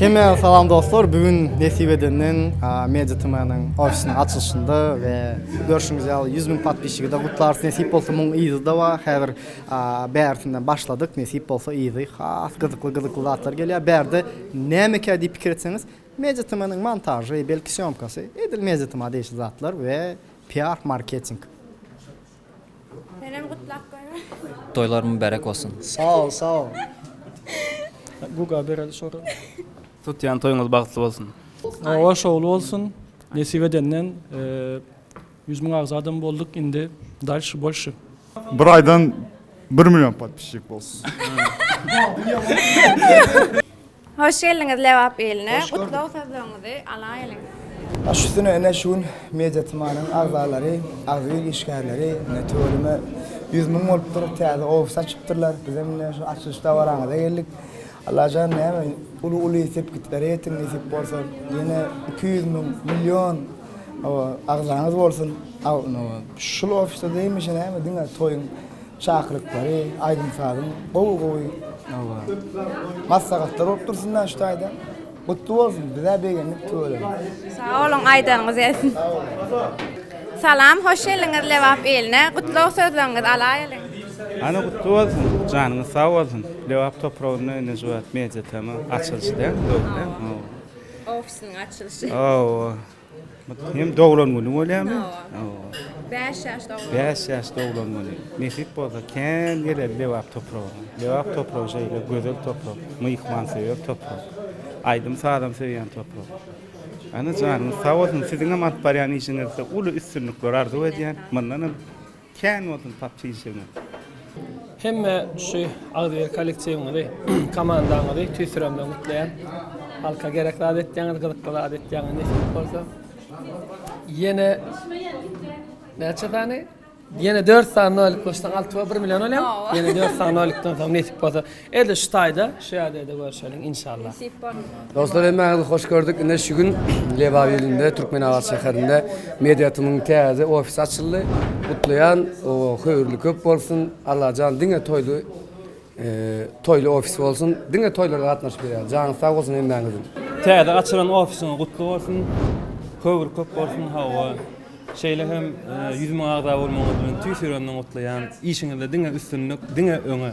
Hemä salam dostlar, bu gün nesip edenden Media TM-niň ofisiniň açylyşynda we Görşüňiz ýaly ýüz müň podpisçigi de gutlarys nesip bolsa muň yzy da bar häzir bärisinden başladyk nesip bolsa yzy has gyzykly gyzykly zatlar gelýär bärde nämekä diýip pikir etseňiz media tmnyň montažy belki sýomkasy edil media tma degişli zatlar we piar marketing. Senem gutlap goýman. Toýlar mübärek bolsun. Sag ol sag ol. Guga bereli şora. Tutýan toýuňyz bagtly bolsun. Oba şowly bolsun nesip edenden ýüz müň agza adam bolduk indi dalşi bolşi. Bir aýdan bir million podpisçik bolsun. Hoş geldiňiz Lebap iline. Gutlag sözleriňizi alaýylyň. Baş üstüne ine şu gün media tmanyň agzalary, agzybir işgärleri ine tüweleme ýüz müň bolupdyr, täze ofis açypdyrlar. Bizem ine şu açylyş dabaraňyza geldik. Allajan näme uly uly sepgitler ýetiň nesip bolsa ýene iki ýüz müň million oba agzaňyz bolsun şul ofisde hemişe näme diňe toýuň çakylyklary aýdym sazyň gowy gowy maslahatlar bolup dursun da şu taýdan. Gutly bolsun bizä begendik tüweleme. Sag boluň aýdanyňyz gelsin. Salam hoş geldiňiz Lebap iline gutlag sözleriňizi alaýalyň. Hany gutly bolsun janyňyz sag bolsun Lebap topragynda indi şu wagt media tm açylyşy däl dogry däl? Ofisiniň açylyşy. Hawa. Hem doglan güni bolýamy? Hawa. 5 ýaş doglan. 5 ýaş doglan güni. Nesip bolsa kän geler Lebap topragyna. Lebap topragy şeýle gözel toprak, myhman söýer toprak. Aýdym sazam söýýän toprak. Ana janyňyz sag bolsun, siziňem alyp barýan işiňizde uly üstünlikler arzuw edýän. Mundanam Kän bolsun pap çigişiňiz. Hemme şu agzybir kollektiwiňizi, komandaňyzy tüýsüremden gutlaýan. Halka gerek zat etýäňiz, gyzykly zat etýäňiz nesip bolsa. Ýene näçe sany? Ýene dört sany nolik goşsaň alty we bir million bolýar. Ýene dört sany nolikden soň nesip bolsa. Ede şu taýda şu ýerde-de görşeliň inşallah. Dostlar hemmäňizi hoş gördük. Ine şu gün Lebap ilinde Türkmenabat şäherinde Mediatymyň täze ofisi açyldy. Gutlaýan höýrli köp bolsun. Allajan diňe toýly toýly ofis bolsun. Diňe toýlara gatnaşyp ýörýän. Janyňyz sag bolsun hemmäňiziň. Täze açylan ofisiň gutly bolsun. Höýr köp bolsun hawa. Şeýle hem ýüz müň agza bolmagyňyz bilen tüýs ýüregimden gutlaýan. Işiňizde diňe üstünlik, diňe öňe.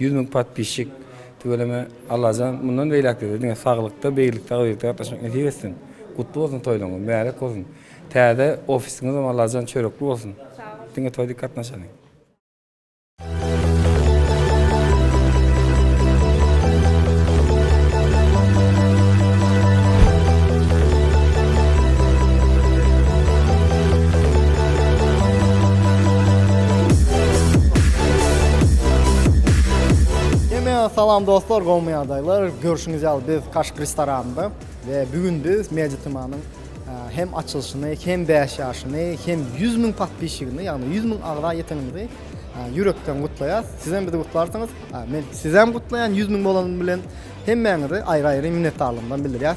Ýüz müň podpisçik tüweleme Allajan mundan beýläkde-de diňe saglykda beýilikde agzybirlikde gatnaşmak nesip etsin. Gutly bolsun toýlaryňyz mübärek bolsun. Täze ofisiňizem Allajan çörekli bolsun. Diňe toý dik gatnaşaly. Salam dostlar, gowmy ýagdaýlar? Görşüňiz ýaly biz Kaşk restoranynda we bu gün biz Meditimanyň hem açylyşyny, hem 5 ýaşyny, hem 100 müň podpisçigini, ýagny 100 müň agza ýetenimizi ýürekden gutlaýas. Siz hem bizi gutlarsyňyz. Men sizi hem gutlaýan 100 müň bolany bilen. Hemmäňize aýry-aýry minnetdarlygymdan bildirýäs.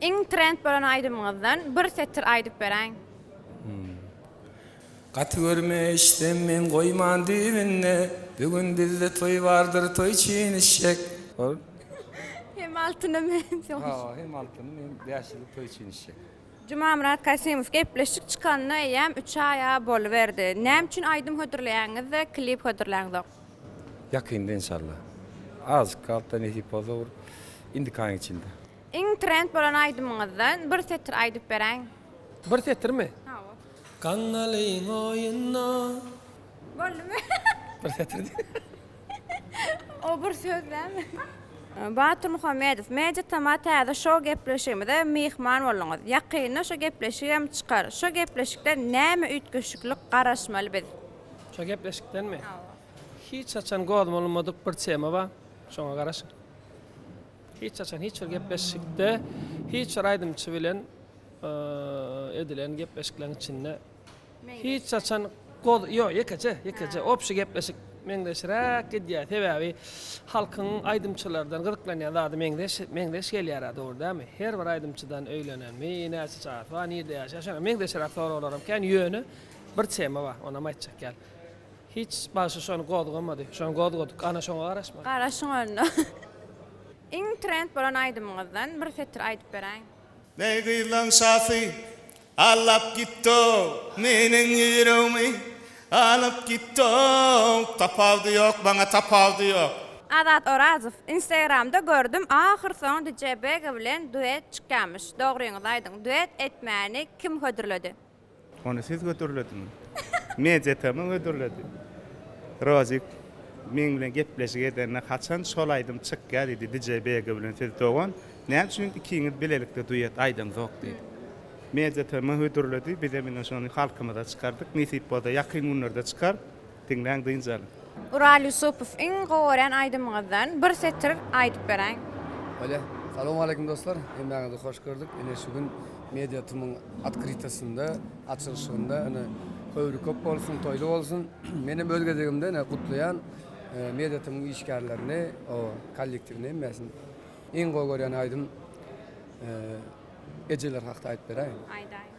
Iň trend bolan aýdymyňyzdan bir setir aýdyp beräýiň. Hum. Gaty görme eşdem men goýman düýbünde Bu gün bizde toý bardyr toý çyn işşek. Ol. Hem altyna men soň. Ha hem altyny men bäş ýyllyk toý çyn işşek. Jumamyrat Kasymow gepleşik çykanyna eýýäm üç aý a boluberdi. Näme üçin aýdym hödürleýäňizde klip hödürläňzok. Ýakynda inşallah. Azjyk galpda nesip bolsa bir indiki aýyň içinde. Iň trend bolan aýdymyňyzdan bir setir aýdyp beräýiň. Bir setirmi? Hawa. Gaňňalyň oýuna. Boldumy? Bir setir diýdi. O bir söz dälmi? Batyr Muhammedow, Media Tama täze şou gepleşigimize myhman bolduňyz. Ýakynda şo gepleşik hem çykar. Şo gepleşikden näme üýtgeşikli garaşmaly biz? Şo gepleşikdenmi? Hawa. Hiç haçan gozmalmadyk bir tema bar. Şoňa garaşyň. Hiç haçan hiç bir gepleşikde hiç bir aýdymçy bilen edilen gepleşikleriň içinde hiç haçan goz ýok ýekeje ýekeje obşi gepleşik meňzeşräk gidýär sebäbi halkyň aýdymçylardan gyzyklanýan zady meňzeş meňzeş gelýärä dogry dämi her bir aýdymçydan öýlenenmi näçe çagasy bar nirde ýaşaýar şoňa meňzeşräk soraglaram kän ýöne bir tema bar onam aýtjak ýaly Hiç bagşy şony gozgamady. Şony gozgadyk. Ana şoňa garaşmaly. Garaşyň onda. Iň trend bolan aýdymyňyzdan bir setir aýdyp beräýiň. Neý gyzlaň şasy allap gitdow meniň ýüregmi alyp gitdow tapawdy ýok maňa tapawdy ýok. Azat Orazow instagramda gördüm ahyr soňy dj Bega bilen duet çykýamyş dogryňyzy aýdyň duet etmäni kim hödürledi. Ony siz hödürlediň. Media-TM hödürledi. Rozik meň bilen gepleşik edende haçan şol aýdym çykýar diýdi DJ Bege bilen siz dogan näme üçin ikiňiz bilelikde duet aýdamzok diýdi. Media-TM hödürledi bizem indi şony halkymyza çykardyk nesip bolsa ýakyn günlerde çykar. Diňläň dynç alyň. Ural Yusupow iň gowy görýän aýdymyňyzdan bir setir aýdyp beräýiň. Bolýa. Salowmaleýkim dostlar. Hemmäňizi hoş gördük. Ine şu gün Media TM-iň otkrytosynda, açylyşygynda ine höwri köp bolsun, toýly bolsun. Men hem öz gezegimde ine gutlaýan Media TM-iň işgärlerini, o kollektiwini hemmesini. Iň gowy görýän aýdym Ejeler hakda aýdyp beräýiň. Aýdaýyň.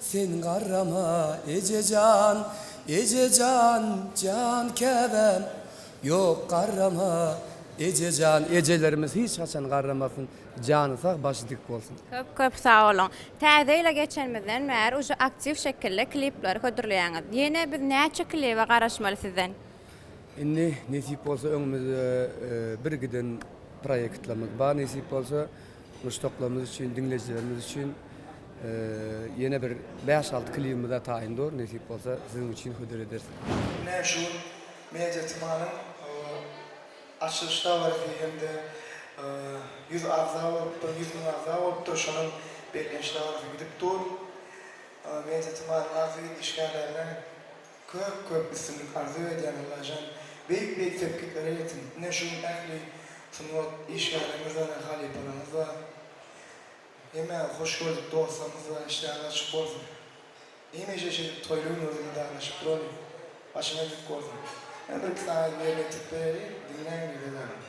Sen garrama, eje jan, eje jan, jan käbäm, Ýok, garrama, eje jan, ejelerimiz hiç haçan garramasyn, jany sag, başy dik bolsun! Köp köp sag boluň. Täze ýyla geçenimizden bäri uje aktiw şekilde klipleri hödürleýäňiz. Ýene biz näçe klibe garaşmaly sizden? Indi nesip bolsa öňümizde birgiden proýektlerimiz bar nesip bolsa. Muşdaklarymyz üçin, diňleýjilerimiz üçin ýene bir bäş-alty klibimiz hem taýyn dur. Nesip bolsa, siziň üçin hödür ederis. Meşhur Media Tmanyň açylyş dabarasy hem-de ýüz agza bolupdyr, ýüz müň agza bolupdyr. Şonuň bellenç dabarasy gidip dur. Media Tmanyň agza işgärlerine Köp köp üstünlik arzuw edýän Allajan beýik beýik sepgitlere ýetiň ine şu gün ähli sungat işgärleriňizbara halypalaryňyz bar hemä hoş gördük dostlarymyz bar işleriňiz açyk bolsun hemişe şeýdip toýly günlerde didarlaşyp duralyň başyňyz dik bolsun men bir iki sany ýerine ýetirip bereli diňläň ýerde galyň.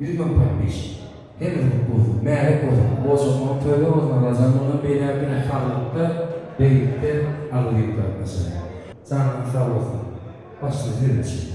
Ýüz müň paýpeş. Heniz gupuwsyz, märe kosyp, boşatmagyň töle bozan Rajan mundan beýläk diňe haglykda, beýlikde agyz ýuwduryp başarýar. Janyňyz sag bolsun. Başda siz üçin.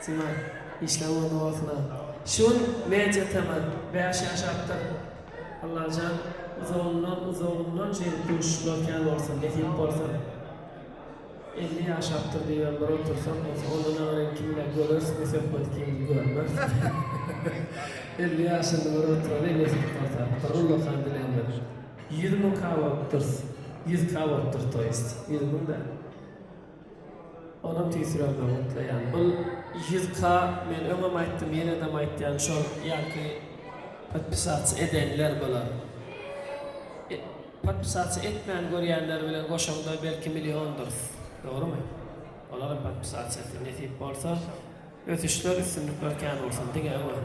Sima, işler ugruna bolsuna. Şu gün media tema, bäş ýaşapdyr. Allajan uzagyndan uzagyndan şeýdip duşuşmak kän bolsun, nesip bolsa. Elli ýaşapdyr diýibem bir otursam bolsa, onda naýynda kimler göreris bu söhbeti kim görmez. Elli ýaşynda bir oturaly nesip bolsa. Bir ullakan dilegim ýok. Ýüz müň K bolupdyrs. Ýüz K bolupdyrs to ýest. Ýüz müň däl. Onam tüýsüräp öňürtleýän. Bul yzka men öňem aýtdym ýenedem aýtýan şol ýaňky podpisats edenler bular. E podpisats etmän görýänler bilen goşaňda belki milliondyrs. Dogrymy? Olaram podpisats etdi. Nesip bolsa ösüşler üstünlikler kän bolsun diňe öňe.